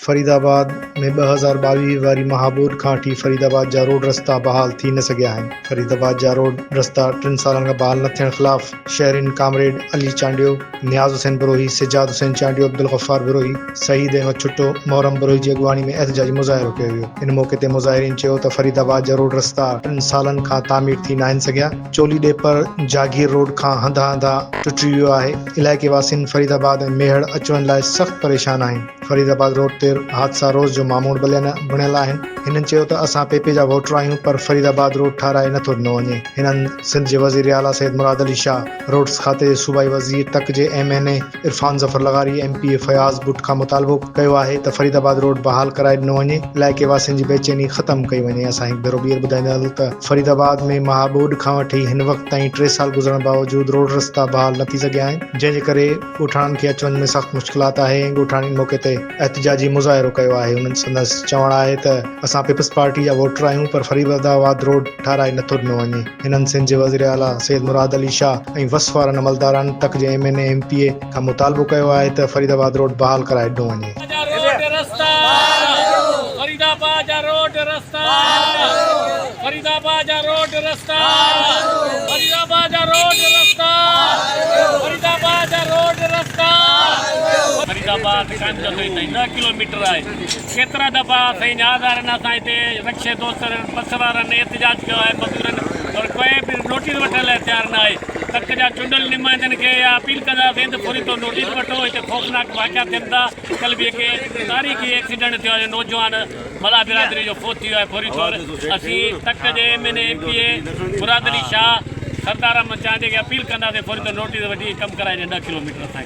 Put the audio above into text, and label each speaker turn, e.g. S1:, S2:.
S1: فريد آباد ۾ ٻه هزار ٻاويهه واري مهابود کان وٺي فريد آباد جا روڊ رستا بحال ٿي نه سگهيا آهن، فريد آباد جا روڊ رستا ٽن سالن کان بحال نه ٿيڻ خلاف شهرين ڪامريڊ علي چانڊيو، نياز حسين بروهي، سجاد حسين چانڊيو، عبدالغفار بروهي، سعيد احمد ڇٽو، محرم بروهي جي اڳواڻي ۾ احتجاجي مظاهرو ڪيو ويو، ان موقعي تي مظاهرين چيو ته فريد آباد جا روڊ رستا ٽن سالن کان تعمير ٿي ناهن سگهيا، چولي ڏيپر جاگير روڊ کان هنڌا هنڌا ٽٽي ويو آهي، علائقي واسين فريد آباد ۽ ميهڙ اچ وڃ لاء سخت پريشان آهن، فريد آباد روڊ تي حادثا روز جو معمول بڻيل آهن، هنن چيو ته اسان پي پي جا ووٽر آهيون پر فريد آباد روڊ ٺهرائي نه ٿو ڏنو وڃي، هنن سنڌ جي وزير اعليٰ سيد مراد علي شاهه، روڊز کاتي جي صوبائي وزير تڪ جي M N A Irfan Zafar لغاري M P A Fayaz Butt کان مطالبو ڪيو آهي ته فريد آباد روڊ بحال ڪرائي ڏنو وڃي علائقي واسين جي بيچيني ختم ڪئي وڃي اسان هڪ ڀيرو ٻيهر ٻڌائيندا هلون ته فريد آباد ۾ مها ٻوڏ کان وٺي هن وقت تائين ٽي سال گذرڻ باوجود روڊ رستا بحال نه ٿي سگهيا آهن جنهن جي ڪري ڳوٺاڻن کي اچ وڃ ۾ سخت مشڪلات آهي ۽ ڳوٺاڻين موقعي تي احتجاجي مظاهرو ڪيو آهي انهن سندس چوڻ آهي ته اسان پيپلز پارٽي جا ووٽر آهيون پر فريد آباد روڊ ٺهرائي نه ٿو ڏنو وڃي. هنن سنڌ جي وزير اعليٰ سيد مراد علي شاهه ۽ وس وارن عملداران تڪ جي M N A M P A کان مطالبو ڪيو آهي ته فريد آباد روڊ بحال ڪرائي ڏنو
S2: وڃي. ڪيترا دفعا سائين نياز وارن اسان هتي رڪشي دوستن بس وارن احتجاج ڪيو آهي مزدورن پر ڪوئي به نوٽيس وٺڻ لاء تيار نه آهي تڪ جا چونڊل نمائندن کي اها اپيل ڪنداسين ته پوري طور نوٽيس وٺو هتي خوفناڪ واقعا ٿين ٿا ڪل به هڪ تاريخي ايڪسيڊنٽ ٿيو آهي نوجوان ملا برادري جو فوت ٿيو آهي فوري طور اسين تڪ جي M N A M P A Murad Ali Shah Sardar Ahmed Chandio کي اپيل ڪنداسين فوري طور نوٽيس وٺي ڪم ڪرائي ڏين ڏهه ڪلوميٽر اسان کي